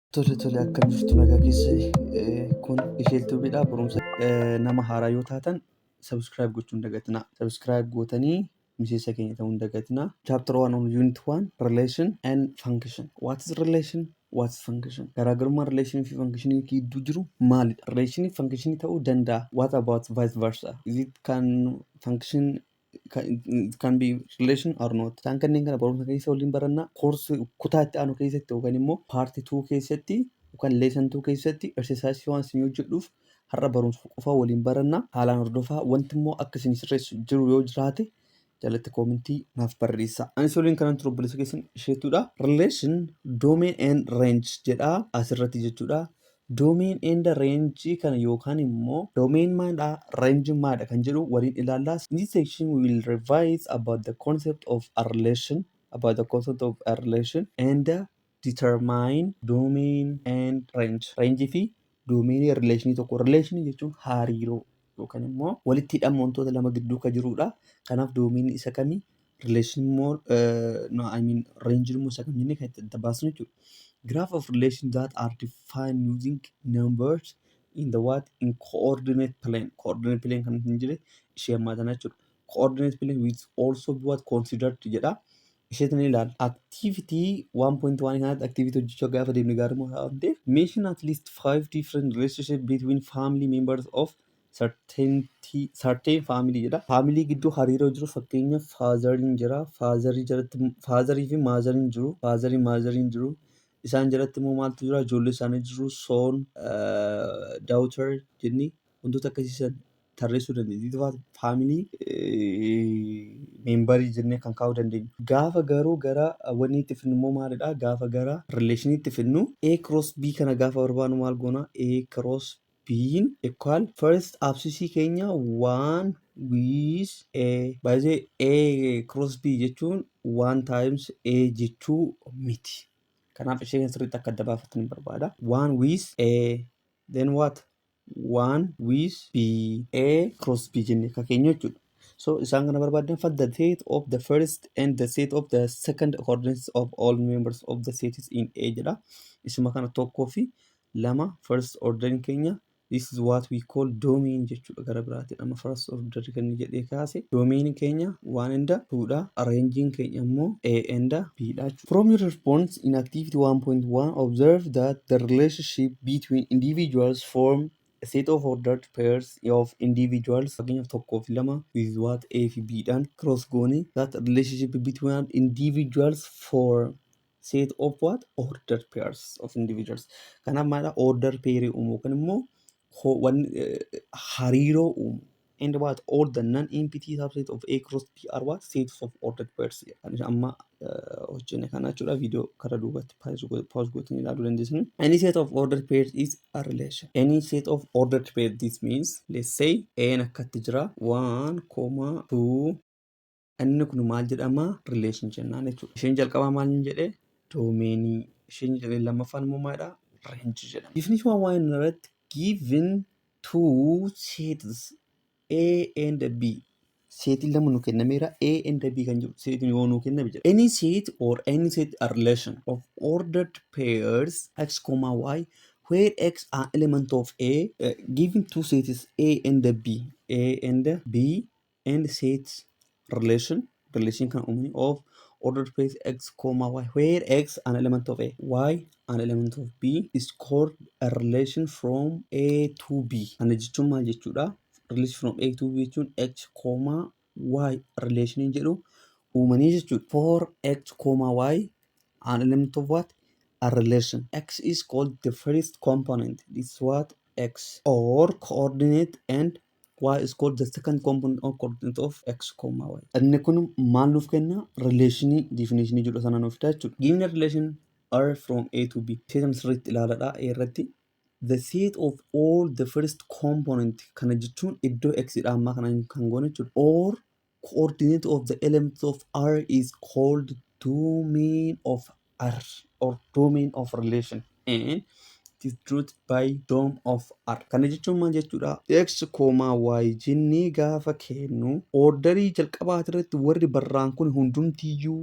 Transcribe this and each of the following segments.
Tole tole akkam jirtu nagaa keessa kun ishee tubiidha barumsa nama haaraa yoo taatan subscribe gochuu hin dagatinaa subscribe gootanii miseensa keenya ta'uu hin dagatinaa chapter 1 on unit 1 relation and function what is relation what is function garaagarummaa relation fi function gidduu jiru maalidha relation function ta'uu danda'a what about vice versa is it can function kan be relation or not isaan kanneen kana barumsa keessa waliin barannaa koorsi kutaa itti aanu keessatti yookaan immoo paarti 2 keessatti yookaan leesan 2 keessatti exercise waan isin hojjedhuuf har'a barumsa qofa waliin barannaa haalaan hordofaa wanti immoo akka isin sirreessu jiru yoo jiraate jalatti koomintii naaf barreessaa. Ani soliin kanan ture obboleessa keessan isheetudha. Relation domain and range jedha asirratti jechuudha. Domain and range kana yookaan immoo domain maadha range maadha kan jedhu waliin ilaalla. In this section we will revise about the concept of a relation about the concept of a relation and determine domain and range. Range fi domain relationii tokko relation jechuun hariiroo yookaan immoo walitti hidhama wantoota lama gidduu kan jirudha. Kanaaf doomiin isa kami relation immoo no I mean range immoo isa kami jennee kan itti adda baasnu jechuudha. Graph of relation that are defined using numbers in the what in coordinate plane coordinate plane kan hin jire ishee ammaa tana jechuudha. Coordinate plane which also be what considered jedha. isheetti ni ilaalla. Activity 1.1 kanatti activity hojjechuu gaafa deemne gaarummaa isaa waan ta'eef mention at least five different relationship between family members of certainty certain family jedha. Family gidduu hariiroo jiru fakkeenya faazariin jira. Faazarii jalatti faazarii fi maazariin jiru. Faazarii maazariin jiru. Isaan jalatti immoo maaltu jira? Ijoollee isaanii jiru. Soon, daughter jenni. wantoota akkasii san tarreessuu dandeenya. Itti faatu faamilii meembarii jennee kan kaa'uu dandeenyu. Gaafa garuu gara wanni itti fidnu immoo maalidha? Gaafa gara rileeshinii itti fidnu A cross B kana gaafa barbaadnu maal goona? A cross B equal first absisii keenya one with A. Baay'ee A cross B jechuun one times A jechuu miti. Kanaaf ishee kan sirriitti akka adda baafattan barbaada. One with A then what? one with b a cross b jenne akka keenya jechuudha. So isaan kana barbaadan find the set of the first and the set of the second coordinates of all members of the sets in A jedha. Isuma kana tokkoo fi lama first order keenya this is what we call domain jechuudha gara biraatiin amma first order kan jedhee kaase domain keenya one and two dha arranging keenya immoo A and B dha jechuudha. From your response in activity 1.1, observe that the relationship between individuals form a set of ordered pairs of individuals fakkeenyaaf tokkoo fi lama with what A fi B dhaan cross goone that relationship between individuals form set of what ordered pairs of individuals kanaaf maadha order pair uumuu yookaan immoo ho- wan- eh, hariiroo uumuu and what all the non-empty subset of A cross B are what sets of ordered pairs kan amma hojjenne kana jechuudha viidiyoo kara duubatti pause gootanii ilaaluu dandeessan. Any set of ordered pairs is a relation. Any set of ordered pairs this means let's say A'n akkatti jira 1, 2, Inni kun maal jedhama? Relation jennaan jechuudha. Isheen jalqabaa maal hin jedhee? Doomeenii. Isheen jedhee lammaffaan immoo maalidha? Range jedhama. Definition waan inni irratti given two sets A and B. Seetiin lama nu kennameera A and B kan jedhu seetiin yoo nu kenname jedha. Any set or any set a relation of ordered pairs x comma y where x are element of A uh, given two sets A and B A and B and set relation relation kan uumne of ordered pairs x comma y where x an element of a y an element of b is called a relation from a to b kana jechuun maal jechuudha relation from a to b jechuun x comma y relation jedhu uumanii jechuudha for x comma y an element of what a relation x is called the first component this is what x or coordinate and y is called the second component or coordinate of x comma y. Inni kun maal nuuf kenna? Rileeshinii diifineeshinii jedhu sana nuuf fida jechuudha. Given the relation r from a to b. Seetan sirriitti ilaaladha a irratti. The set of all the first component kana jechuun iddoo x dha ammaa kana kan goone jechuudha. Or coordinate of the elements of R is called domain of R or domain of relation and it is denoted by dom of R. Kana jechuun maal jechuudha? X, Y jennee gaafa kennu ordarii jalqabaa irratti warri barraan kun hundumtiyyuu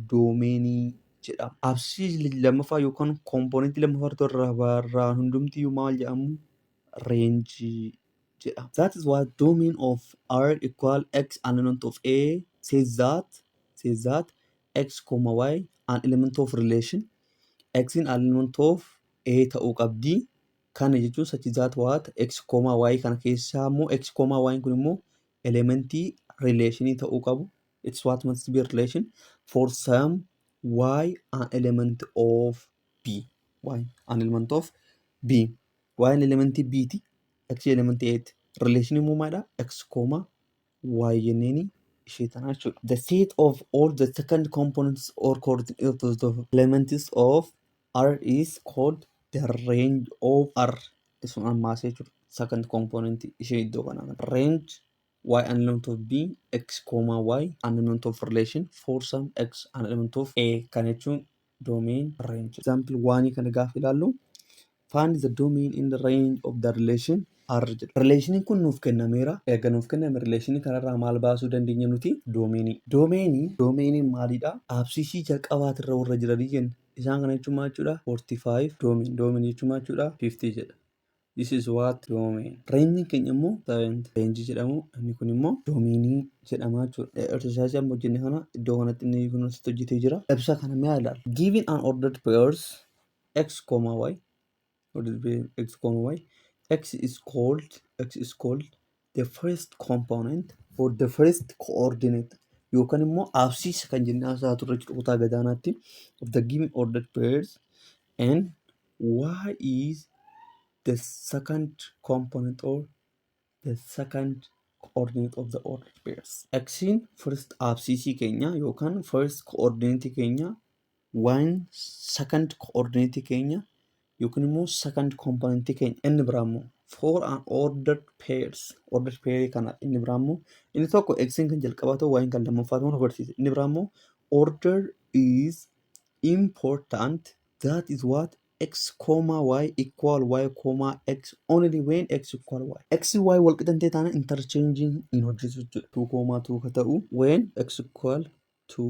doomeenii jedhama. Absii lammaffaa yookaan kompoonentii lammaffaa irratti warra barraan hundumtiyyuu maal jedhamu? Reenjii jedha. That is what domain of R equal X an element of A says that says that X comma Y an element of relation X in an element of A ta'uu qabdi. Kana jechuun such that what X comma Y kana keessaa immoo X comma Y kun immoo elementii relationii ta'uu qabu. It's what must be relation for some Y an element of B. Y an element of B. Y an elementii B ti. x jedhaman ta'eetti relation uumaadha x comma y jenneen ishee tanaa jechuudha. The set of all the second components or coordinates of the elements of R is called the range of R. Sun ammaas jechuudha. Second component ishee iddoo kanaa range y an element of b x comma y an element of relation for some x an element of a kan jechuun domain range example waanii kana gaafa ilaallu find the domain in the range of the relation r jedha relationiin kun nuuf kennameera erga nuuf kenname relationi kanarraa maal baasuu dandeenya nuti doomeenii doomeenii doomeeniin maaliidha absisii jalqabaatirra warra jiranii jenna isaan kana jechuun maal jechuudha 45 doomiin doomiin jechuun maal jechuudha 50 jedha This is what domain. Reenjiin keenya immoo parent range jedhamu inni kun immoo domainii jedhama jechuudha. Exercise amma hojjenne kana iddoo kanatti inni kun asitti hojjetee jira. Ibsa kana mee ilaali. Giving an ordered pairs x, y ordered pair x, y x is called x is called the first component for the first coordinate yookaan immoo aabsiisa kan jennee haasaa turre jechuudha kutaa gadaanaatti of the given ordered pairs and why is the second component or the second coordinate of the ordered pairs. X'n first aabsiisii keenya yookaan first coordinate keenya Waan second coordinate keenya yookiin immoo second component keenya inni biraa immoo for an ordered pairs ordered pair kana inni biraa immoo inni tokko x kan jalqabaa ta'u y kan lammaffaa ta'u agarsiisa inni biraa immoo order is important that is what x comma y equal y comma x only when x equal y x y wal qixan ta'e taana interchanging hin hojjetu jechuudha 2 comma 2 ka ta'u when x equal 2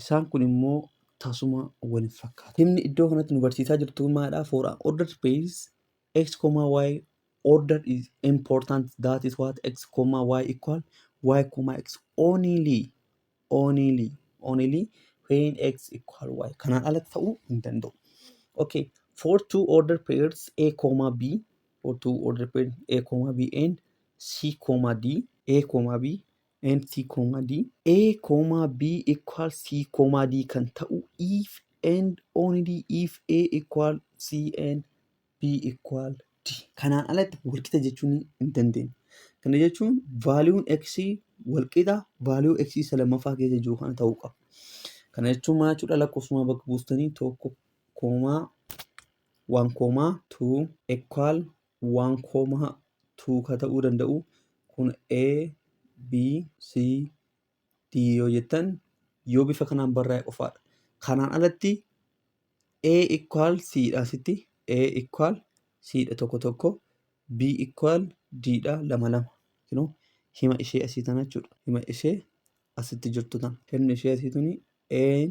Isaan kun immoo tasuma wal hin fakkaatu. Himni iddoo kanatti nu barsiisaa jirtu maadha? For an ordered space x, y order is important that is what x, y equal y, x only only only when x equal y kanaan ala ta'uu hin danda'u. Okay, for two ordered pairs a, b for two ordered pairs a, b and c, d a, b and C comma D. A comma B equal C comma D kan ta'u if and only if A equal C and B equal D. Kanaan alatti walqixa jechuun hin dandeenye. Kana jechuun vaaliyuun x walqixa vaaliyuu x isa lammaffaa keessa jiru kana ta'uu qaba. Kana jechuun maal jechuudha lakkoofsumaa bakka buustanii tokko koomaa waan koomaa tuu equal waan koomaa tuuka ta'uu danda'u kun A, B, C, D yoo jettan yoo bifa kanaan barraa'e qofaadha. Kanaan alatti A equal C dha asitti A equal C dha tokko tokko B equal D dha lama lama. Kinoo hima ishee asii tana jechuudha. Hima ishee asitti jirtu tana. Himni ishee asii tuni A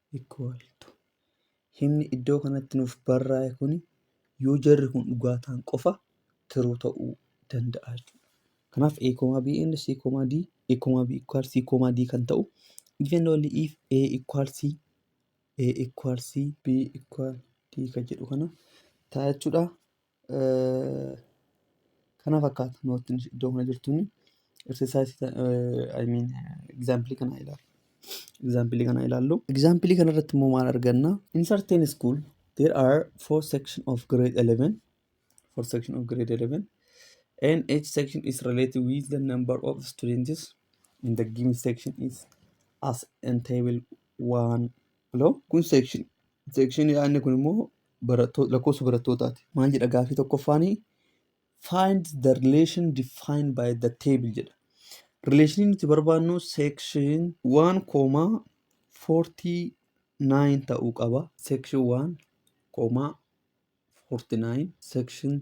equal to Himni iddoo kanatti nuuf barraa'e kuni yoo jarri kun dhugaa ta'an qofa tiruu ta'uu danda'a jechuudha. Kanaaf A, B and C, D, A, B equal C, D kan ta'u if and only if A equal C, A equal C, B equal D kan jedhu kana ta'a jechuudha. Kana fakkaata noottiin iddoo kana jirtuun exercise I mean example kana ilaalu. Example kana ilaallu. Example kana irratti immoo maal arganna? In certain school there are four section of grade 11 four section of grade 11 and each section is related with the number of students in the given section is as in table 1 below. Kun section section yaadni kun immoo lakkoofsa barattootaati. Maal jedha gaafii tokkoffaanii? Find the relation defined by the table jedha. Rileeshinii nuti barbaadnu section 1 koomaa 49 ta'uu qaba. Section 1 koomaa 49 section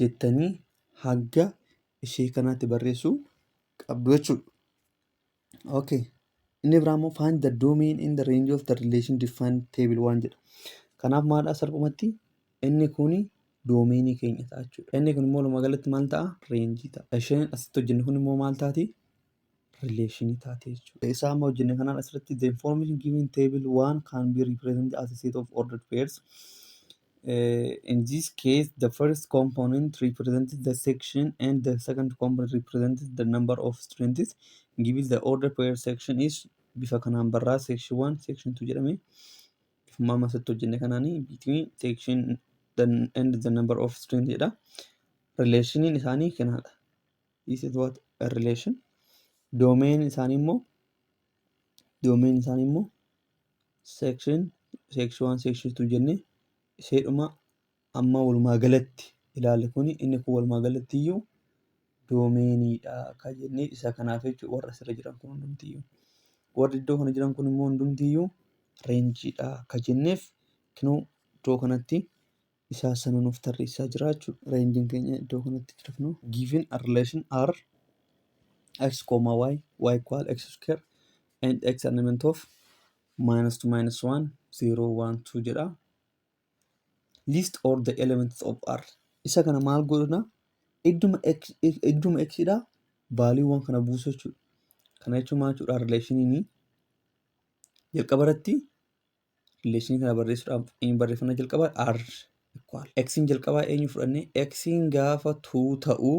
jettanii hagga ishee kanaatti barreessuu qabdu jechuudha. Okay. Inni biraa immoo find the domain in the range of the relation defined table waan jedha. Kanaaf maalidha salphumatti inni kuni doomeenii keenya ta'a jechuudha. Inni kun immoo walumaa galatti maal ta'a? Reenjii ta'a. Isheen asitti hojjennu kun immoo maal taati? rileeshinii taate jechuudha. Isaa amma hojjenne kanaan asirratti the information given table one can be represented as a set of ordered pairs. Uh, in this case, the first component represents the section and the second component represents the number of students. Given the order pair section is bifa kanaan barraa section 1, section 2 jedhame. Bifuma amma asirratti hojjenne kanaanii between section the, and the number of students jedha. Relationin isaanii kanaadha. is it what a relation domain isaanii immoo domain isaanii immoo section section one section two jennee isheedhuma amma walumaa galatti ilaali kuni inni kun walumaa galatti iyyuu doomeeniidha kan jennee isa kanaaf jechuudha warra asirra jiran kun hundumtiyyuu warri iddoo kana jiran kun immoo hundumtiyyuu reenjiidha kan jenneef kinoo iddoo kanatti isaa sana nuuf tarreessaa jira jechuudha. Reenjiin keenya iddoo kanatti jira kunoo. Given a relation R x comma y y equal x square and x element of minus 2 minus 1 0 1 2 jedha. List all the elements of R. Isa kana maal godhuna? Idduma x idduma x dha vaaliiwwan kana buusu jechuudha. Kana jechuun maal jechuudha? Rileeshiniin jalqaba irratti Rileeshinii kana barreessuudhaaf eenyu barreeffannaa jalqabaa R equal. X'n jalqabaa eenyu fudhanne X'n gaafa 2 ta'u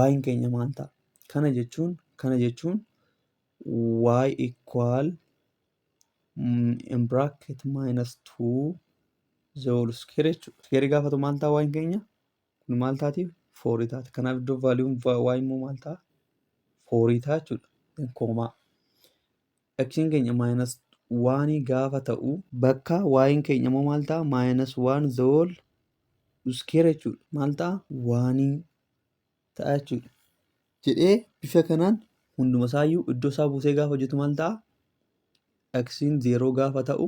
Y'n keenya maal ta'a? Kana jechuun kana jechuun Y equal mm, in bracket minus 2 the whole square jechuudha. Square gaafa ta'u maal ta'a Y'n keenya? Kun maal taati? 4 taati. Kanaaf iddoo vaaliyuun Y immoo maal ta'a? 4 ta'a jechuudha. Koomaa. Xn keenya minus 1 gaafa ta'u. Bakka y'n keenya immoo maal ta'a? Minus 1 the whole square jechuudha. Maal ta'a? 1 ta'a jechuudha. Jedhee bifa kanaan hunduma isaayyuu iddoo isaa buusee gaafa hojjetu maal ta'a? Xn 0 gaafa ta'u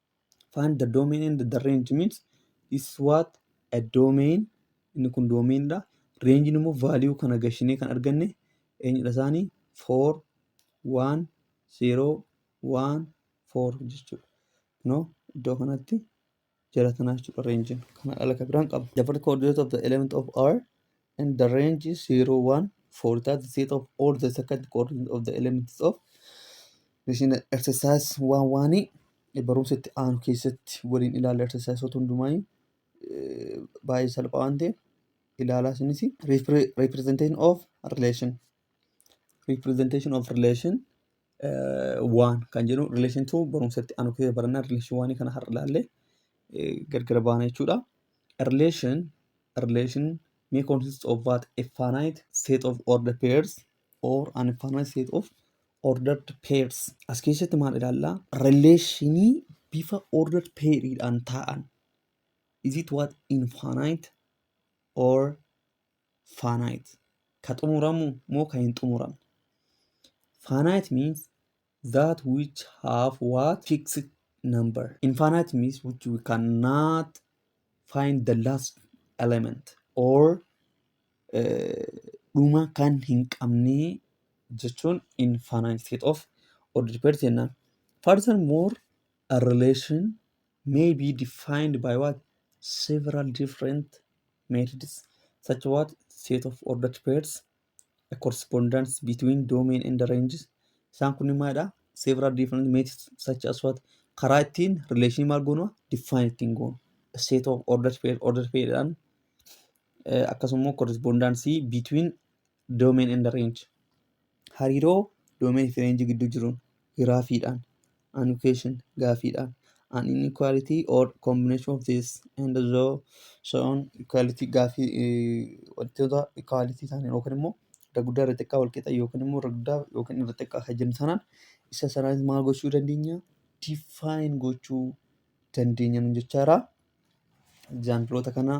find the domain and the range means is what a domain inni kun domain dha range immoo value kana gashinee kan arganne eenyudha isaanii 4 1 0 1 4 jechuudha no iddoo kanatti jala tanaa jechuudha range kana ala kan biraan qaba the first coordinate of the element of r in the range 0 1 for that set of all the second coordinate of the elements of machine exercise waan waanii barumsa itti aanu keessatti waliin ilaalla exercise otoo hundumaa baay'ee salphaa waan ta'eef ilaalaa isinis representation of relation representation of relation eh, waan kan jedhu relation to barumsatti anu keessa barannaa relation waanii kana har'a ilaallee eh, gargara baana jechuudha. A relation a relation may consist of what a finite set of ordered pairs or an infinite set of ordered pairs. As keessatti maal ilaallaa? Relationii bifa ordered pairiidhaan taa'an. Is it what infinite or finite ka xumuramu moo ka hin xumuramne finite means that which have what fixed number infinite means which we cannot find the last element or eh, dhuma kan hin qabne jechuun infinite state of order dependent jennaan furthermore a relation may be defined by what several different methods such what set of ordered pairs a correspondence between domain and the ranges isaan kun maadha several different methods such as what karaa ittiin relation maal goonu define ittiin goonu a set of ordered pair ordered pair dhaan akkasuma correspondence between domain and range hariiroo domain fi range gidduu jiruun giraafiidhaan annotation gaafiidhaan an inequality or combination of this and so so on equality gaafii eh, wantoota equality taaneen yookiin immoo irra guddaa irra xiqqaa wal qixa yookiin immoo irra guddaa yookiin irra xiqqaa kan jennu sanaan isa sanaanis maal gochuu dandeenya define gochuu dandeenya nu jechaara egzaampiloota kanaa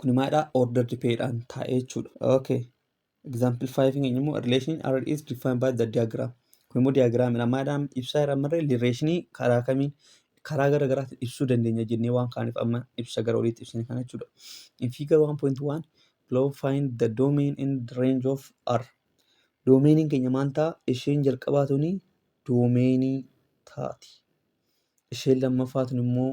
Kuni maalidha? Ordered paydhaan taa'ee jechuudha. Okay. Example 5 keenya immoo relation R is defined by the diagram. Kun immoo diagraamidha. Maadhaan ibsaa irraa marree relationii karaa kamiin karaa gara garaatiin ibsuu dandeenya jennee waan kaaniif amma ibsa gara oliitti ibsine kana jechuudha. In figure 1.1 below find the domain and range of R. Domeeniin keenya maal ta'a? Isheen jalqabaa tuni doomeenii taati. Isheen lammaffaa tun immoo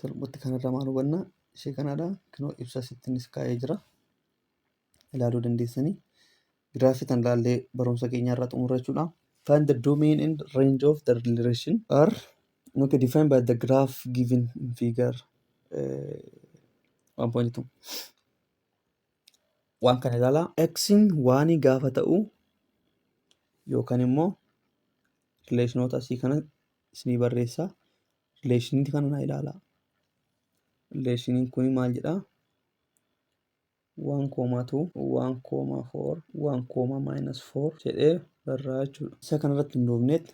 Salphutti kana irraa maal hubanna? Ishee kanaadha. Kunoo ibsa asittinis kaa'ee jira. Ilaaluu dandeessanii. Giraafii tan ilaallee barumsa keenya irraa xumurra jechuudha. Find the domain and range of the relation are okay, defined by the graph given in figure uh, 1.2. Waan kana ilaalaa. X'n waanii gaafa ta'u yookaan immoo rileeshinoota asii kana isinii barreessaa. Rileeshiniin kana naa ilaalaa. Rileeshiniin kun maal jedhaa? waan koomaa tuu waan koomaa foor waan koomaa maayinas foor jedhee barraa jechuudha. Isa kanarratti hundoofneet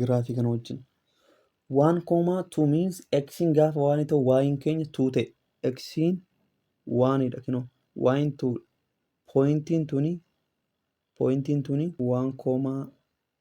giraafii kana wajjin. Waan koomaa tuu miins eksiin gaafa waanii ta'u waayiin keenya tuu ta'e eksiin waaniidha kinoo waayiin tuu pooyintiin tuni pooyintiin tuni waan koomaa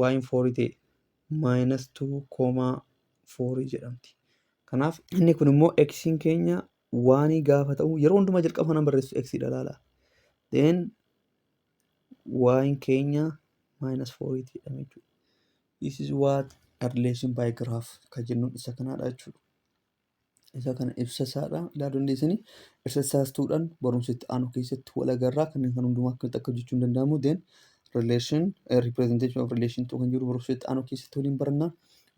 y hin foorii ta'e maayinas 2 koomaa foorii jedhamti. Kanaaf inni kun immoo x'n keenya waanii gaafa ta'u yeroo hundumaa jalqaba kanan barreessu x dha laala. Then y'n keenya maayinas fooriiti jedhame jechuudha. This is what a relation by graph kan jennuun isa kanaadha jechuudha. Isa kana ibsa isaadha ilaaluu dandeessani. Ibsa isaas tuudhaan barumsa itti aanu keessatti wal agarraa kanneen kan hundumaa akkamitti akka hojjechuun danda'amu then relation uh, representation of relation to kan jedhu barumsa itti aanu keessatti waliin baranna.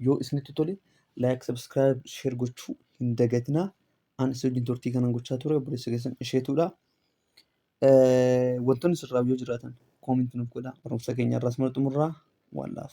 Yoo isinitti tole like, subscribe, share gochuu hin dagatinaa. Ani si wajjin turtii kanan gochaa ture obboleessa keessan isheetuudha. Eh, Wantoonni sirraa yoo jiraatan koominti nuuf godhaa. Barumsa keenya irraas mala xumurraa waan laaf.